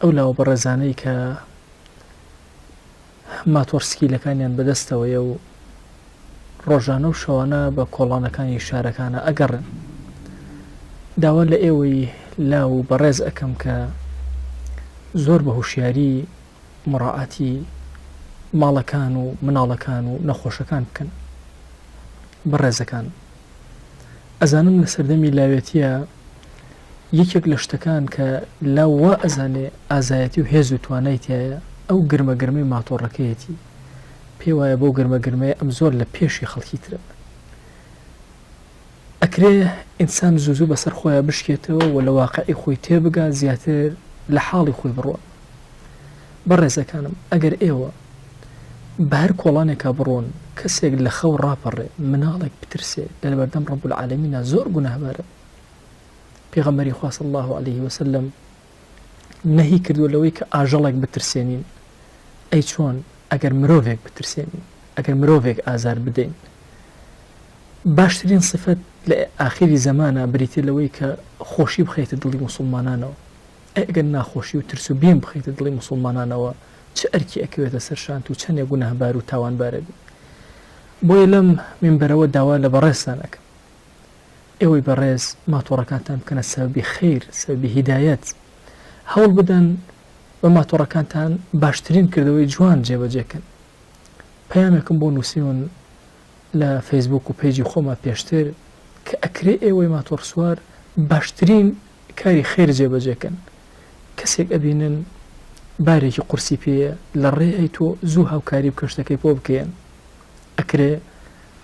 ئەو لاوە بەڕێزانەی کە ماتۆڕ سکیلەکانیان بەدەستەوەیە و ڕۆژانە و شەوانە بە کۆڵانەکانی شارەکانە ئەگەڕن داوا لە ئێوەی لا و بەڕێز ئەەکەم کە زۆر بە هوشیاری مڕعاتی ماڵەکان و مناڵەکان و نەخۆشەکان بکەن بەڕێزەکان ئەزانم لە سەردەمی لاوێتیە یەکێک لە شتەکان کە لاو وا ئەزانێ ئازایەتی و هێز و توانای تایە ئەو گرمە گرمەی ماتۆڕەکەیەتی پێ وایە بەو گرمە گرمەیە ئەم زۆر لە پێشی خەڵکی ترە ئەکرێ ئینسان زوو زوو بەسەر خۆیان بشکێتەوە و لە واقعی خۆی تێبگا زیاتر لە حاڵی خۆی بڕوە بەڕێزەکانم ئەگەر ئێوە بەهەر کۆڵانێکا بڕۆن کەسێک لەخەو ڕاپەڕێ مناڵێک بترسێ لەلەبەردەم ڕەب العالەمینا زۆر گوناهبارە پێغەمبەری خوا صلی اللە علیه وسلم نەهی کردووە لەوەی کە ئاژەڵێک بترسێنین ئەی چۆن ئەگەر مرۆڤێک بترسێنین ئەگەر مرۆڤێک ئازار بدەین باشترین سفەت لە ئاخری زەمانە بریتێ لەوەی کە خۆشی بخەیتە دڵی مسلمانانەوە ئەی ئەگەر ناخۆشی و ترس و بیم بخەیتە دڵی موسوڵمانانەوە چ ئەرکی ئەکەوێتە سەرشانت و چەنێ گوناهبار و تاوانبار ئەبی؟ بۆیە لەم مینبەرەوە داوا لە بەڕێزتان ئەکەم ئێوەی بەڕێز ماتۆڕەکانتان بکەنە سەبەبی خەیر سەبەبی هیدایەت هەوڵ بدەن بە ماتۆڕەکانتان باشترین کردەوەی جوان جێبەجێ کەن پەیامێکم بۆ نوسیون لە فەیسبووک و پەیجی خۆما پێشتر کە ئەکرێ ئێوەی ماتۆڕسوار باشترین کاری خێر جێبەجێ کەن کەسێک ئەبینن بارێکی قورسی پێیە لە ڕێی تۆ زوو هاوکاری بکە شتەکەی پۆ بکەیەن ئەکرێ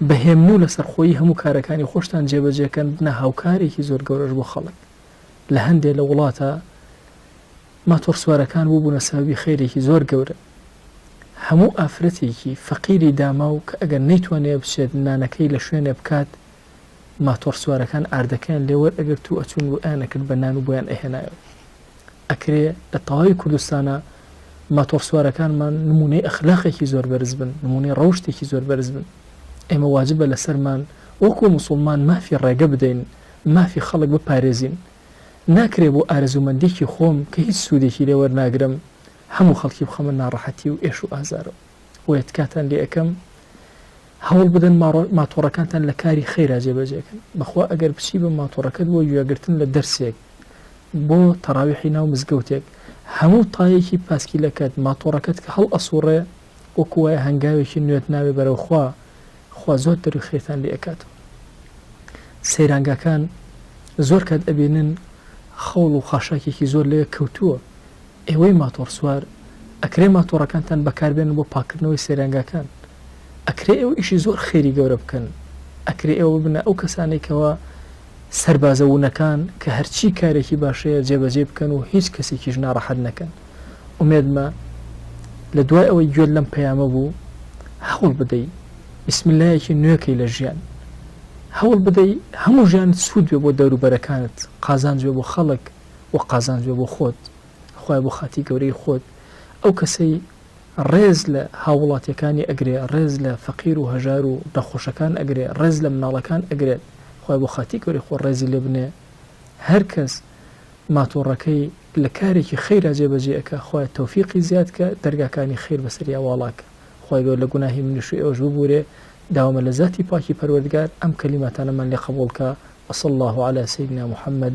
بە هێمن و لەسەرخۆیی هەموو کارەکانی خۆشتان جێبەجێ کەن بنە هاوکارێکی زۆر گەورەش بۆ خەڵک لە هەندێ لە وڵاتە ماتۆڕسوارەکان بوو بوونە سەبەبی خێرێکی زۆر گەورە هەموو ئافرەتێکی فەقیری داماو کە ئەگەر نەیتوانێ بچێت نانەکەی لە شوێنێ بکات ماتۆڕ سوارەکان ئاردەکەیان لێ وەر ئەگرت و ئەچوون و ئەیان ئەکرد بە نان و بۆیان ئەهێنایەوە ئەکرێ لە تەواوی کوردستانە ماتۆڕ سوارەکانمان نمونەی ئەخلاقێکی زۆر بەرز بن نمونەی ڕەوشتێکی زۆر بەرز بن ئێمە واجبە لەسەرمان وەکو مسلمان مافی ڕێگە بدەین مافی خەڵک بپارێزین ناکرێ بۆ ئارزومەندێکی خۆم کە هیچ سوودێکی لێوەرناگرم هەموو خەڵکی بخەمە ناڕەحەتی و ئێش و ئازارەوە بۆیە تکاتان لێ ئەکەم هەوڵ بدەن ماتۆڕەکانتان لە کاری خەیرا جێبەجێکن بەخوا ئەگەر بچی بە ماتۆڕەکەت بۆ گوێگرتن لە دەرسێک بۆ تەراویحی ناو مزگەوتێک هەموو تایەکی پاسکیلەکەت ماتۆڕەکەت کە هەڵ ئەسوڕێ وەکو وایە هەنگاوێکی نوێت ناوێ بەرەو خوا خوا زۆر دەروی خێرتان لێ ئەکاتەوە سەیرانگاکان زۆر کات ئەبینن خەوڵ و خاشاکێکی زۆر لەوێ کەوتووە ئێوەی ماتۆڕ سوار ئەکرێ ماتۆڕەکانتان بەکار بێنن بۆ پاککردنەوەی سەیرانگاکان ئەکرێ ئێوە ئیشی زۆر خێری گەورە بکەن ئەکرێ ئێوە ببنە ئەو کەسانەی کەوا سەربازە ونەکان کە هەرچی کارێکی باش هەیە جێبەجێی بکەن و هیچ کەسێکیش ناڕەحەت نەکەن ئومێدمە لە دوای ئەوەی گوێت لەم پەیامە بوو هەوڵ بدەی بسم اللهەکی نوێکەی لە ژیان هەوڵ بدەی هەموو ژیانت سوود بێ بۆ دەوروبەرەکانت قازانج بێ بۆ خەڵک و قازانج بێ بۆ خۆت خوایە بۆ خاتی گەورەی خۆت ئەو کەسەی ڕێز لە هاووڵاتیەکانی ئەگرێ ڕێز لە فەقیر و هەژار و نەخۆشەکان ئەگرێ ڕێز لە مناڵەکان ئەگرێت خۆی بۆ خاتی گەوری خۆ ڕێزی لێ بنێ هەر کەس ماتۆڕەکەی لە کارێکی خەیرا جێبەجێەکە خۆی تەوفیقی زیاد کە دەرگاکانی خیر بەسەریا واڵاکە خۆی گەور لە گوناهی منیش و ئێوەش ببورێ داوامە لە زاتی پاکی پەروەردگار ئەم کەلیماتانەمان لێ قبولکە وصل الله على سيدنا محمد